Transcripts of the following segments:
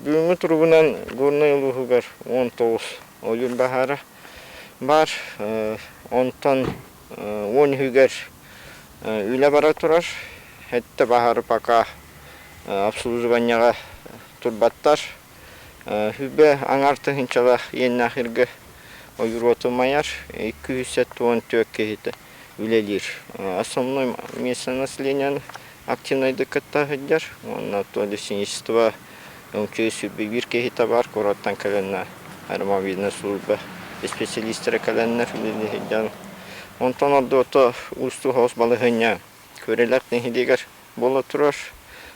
Бүгүҥҥү туругунан Горнай улууһугар уон тоҕус ойуун баһаара баар. Онтон уон үһүгэр үлэ бара турар. Хэттэ баһаары пока обслуживанияҕа турбаттар. Хүбэ аҥаар тыһыынчалаах иэннээх иргэ ойуруоту умайар. Икки үс сэттэ уон түөрт киһитэ үлэлиир. Основной место населения активнайдык кытта сылдьар уонна то лесеничество өҥчү биир киһи табаар куораттан кэлэннэ аэромобильнай служба специалистара кэлэннэр үлэни сылдьан онтон ордуото уустуу-хаос балаһыанньа Күөрэлээх нэһилиэгэр буола турар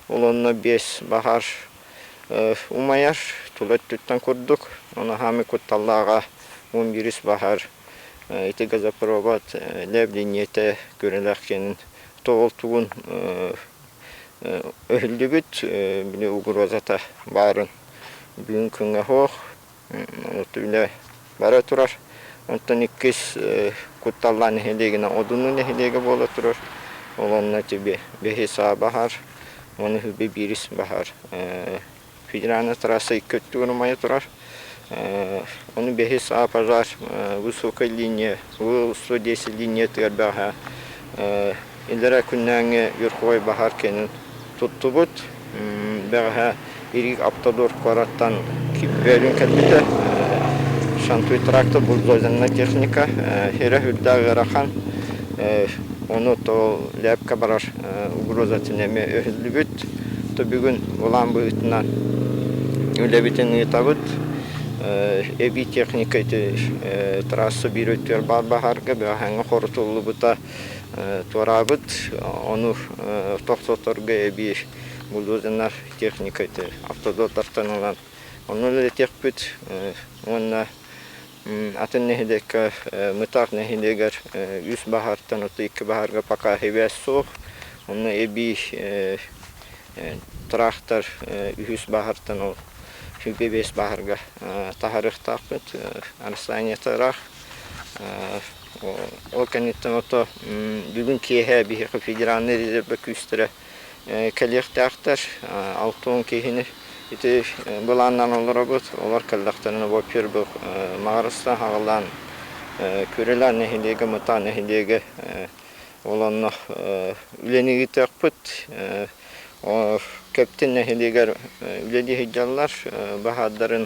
уланна биэс баһаар умайар тула өттүттэн курдук онаһаами кутталлааҕа он бирис баһаар ити газопровод лээблиниэтэ Күөрэлээх сиэнин тоҕул тугун өһүллүгүт били угрозата баарын бүгүн күҥҥэ суох отуйна бара турар онтон иккис кутталлаан нэһилиэгинэ одунну нэһилиэгэ буола турар ол онно тиби бэһи саа баһар маны биирис баһар федеральнай трасса икки өттүгэр умайа турар. Ону бэһис А пожар высокой линия УС-110 линиятыгар бэҕэһээ илэрэ күннээҥҥи верховой баһаар киэнин туттубут. Бэҕэһээ Ирик Автодор куораттан Кипвелин кэлбитэ. Шантуй тракта бульдозерная техника хирэ үрдээх ыарахан. Ону то лээпкэ барар угроза туннеме өһүллүбүт. Түбүгүн улаан быһыытынан үлэбитин ыытабыт. Эбии техника ити трасса биир өттүгэр баар баһаарга бэҕэһээҥҥи хорутуллубута туораабыт. Ону тохтоторго эбии булуудунар техника ити автодотортан ылан онно үлэлэтиэхпит уонна Атын нэһилиэккэ Мытар нэһилиэгэр үс баһаартан оту икки баһаарга пока һивэ суох, онно эбии тыраахтар үһүс баһаартан ол һивэ биэс баһаарга таһарыахтаахпыт. Арсаниета ыраах. Ол кэнниттэн ото бүгүн киэһэ биһиэхэ федеральнай резервэ күүстэрэ Кэлиэхтээхтэр, алта уон киһини ити былааннан олоробут. Олор кэллэхтэринэ во-первых Маҕарыстан аҕалаан Күрүлээн нэһилиэгэ, Мытаа нэһилиэгэ ол онно үлэлиэхпит. Кэптин нэһилиэгэр үлэлии сылдьаллар, баһаардарын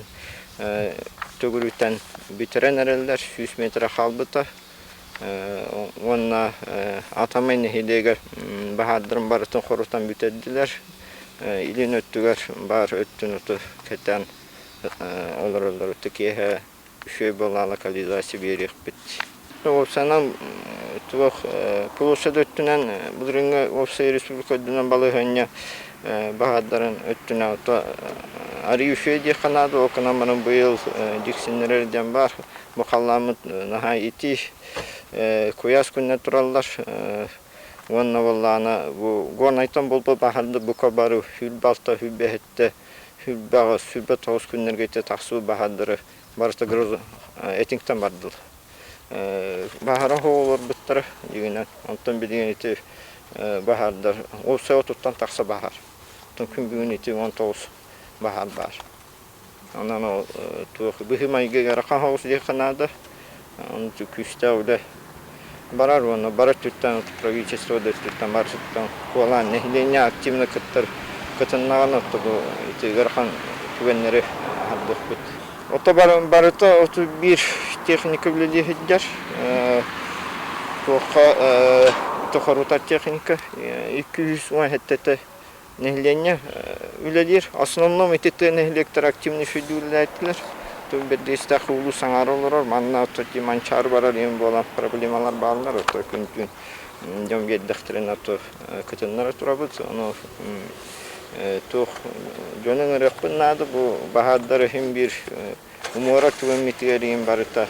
төгүрүтэн бүтэрэн эрэллэр, сүүс миэтэрэ хаалбыта. уонна Атомай нэһилиэгэр баһаардарын барытын хорутан бүтэрдилэр. Илин өттүгэр баар өттүн оту кэтэн олороллору киэһэ үчүгэй буолаала калила сибиэриэхпит. Уопсанан туох полуса да өттүнэн былырыыҥҥы уопсай республика өттүнэн балаһыанньа баһаардарын өттүнэн арыы үчүгэй диэххэ наада ол гынан баран быйыл дьиксиннэрэр диэн баар Бу халлааммыт наһаа итии, куйаас күннэр тураллар уонна буоллаҕына бу горнайтан булба баһарда бука бары үл балта үл бэһиттэ үл баҕа сүбэ тоҕус күннэргэ ите тахсуу баһардары барыта грозу этиҥтэн бардылар баһара оҕолорбуттара дигинен онтон билигин ити баһардар ол сео туттан тахса баһар оттон күн бүгүн ити он тоҕус баһар баар Онон ол туох быһыы-майгы эрэ хаһаҕас диэххэ наада. Ончу күүстээх үлэ барар уонна бар өттүттэн правительство да өттүттэн барытыттан куолаан нэһилиэнньэ активно кыттар кытыннаҕына отто бу ити ыарахан түгэннэри аһардыахпыт. Ото барыта оту биир техника үлэлиһиддер туохха ито хорутар техника 200 уон хеттете Нэһилиэнньэ үлэлиир. Основном ити тыа нэһилиэктэрэ активно сүүрдүүллээтилэр. Тыл биэрдиистээх улуус аҥаара олорор. Манна оттон ди Манчаары барар иһин буолан проблемалар бааллар. Оттон күнтүн дьон биэрдэхтэрин оттон кытыннара турабыт. Ону туох дьонун ырыахпын наада бу баһаардар иһин биир муора тылыммитигэр иин барыта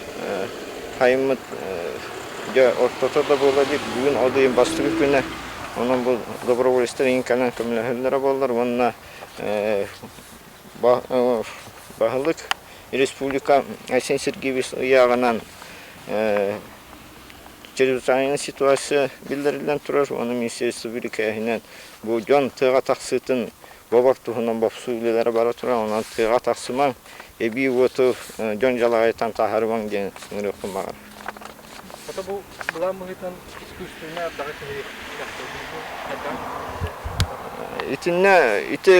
хайыммыт дьэ ортото да буола илик бүгүн ол иин бастакы күнэ онон бу доброволецтар иинканан көмөлөһөллөрө буоллар уонна баһылык республика Айсен Сергеевич ыйааҕынан чрезвычайная ситуация биллэриллэн турар уонна министерство бирикээһинэн бу дьон тыаҕа тахсыытын Бобор туһунан бопсуу үлэлэрэ бара турар, онон тыаҕа тахсымаҥ, эбии уоту дьон дьалаҕыйтан таһаарымаҥ диэн ыҥырыахпын баҕарабын. Хата бу былаан быһыытынан искусственнай ардаҕы киһи тохтотуу бу хайдаҕын иһитиннэрдэ? Итиннэ ити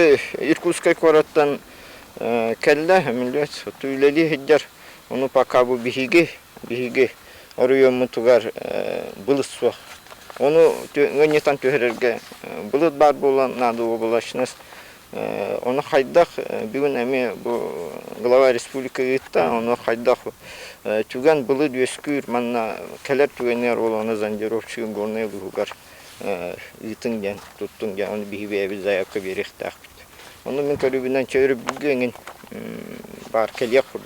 Иркутскай куораттан кэллэ, Мүлүөт, оттон үлэлии сылдьар, ону пока бу биһиги, биһиги оройуоммутугар былыт суох. Ону ыанньытан түһэрэргэ былыт баар буолан наада уобалащность. Ону хайдах бүгүн эмиэ бу глава республика ыытта, ону хайдах түгэн былыт үөскүүр манна кэлэр түгэнигэр ол ону зондировщигы горнай быһугар ыытыҥ диэн туттуҥ диэн ону биһи бэйэбит заявка биэриэхтээхпит. Ону мин көрүбүнэн чөөрүбүлгү эҥин баар кэлиэх курдук.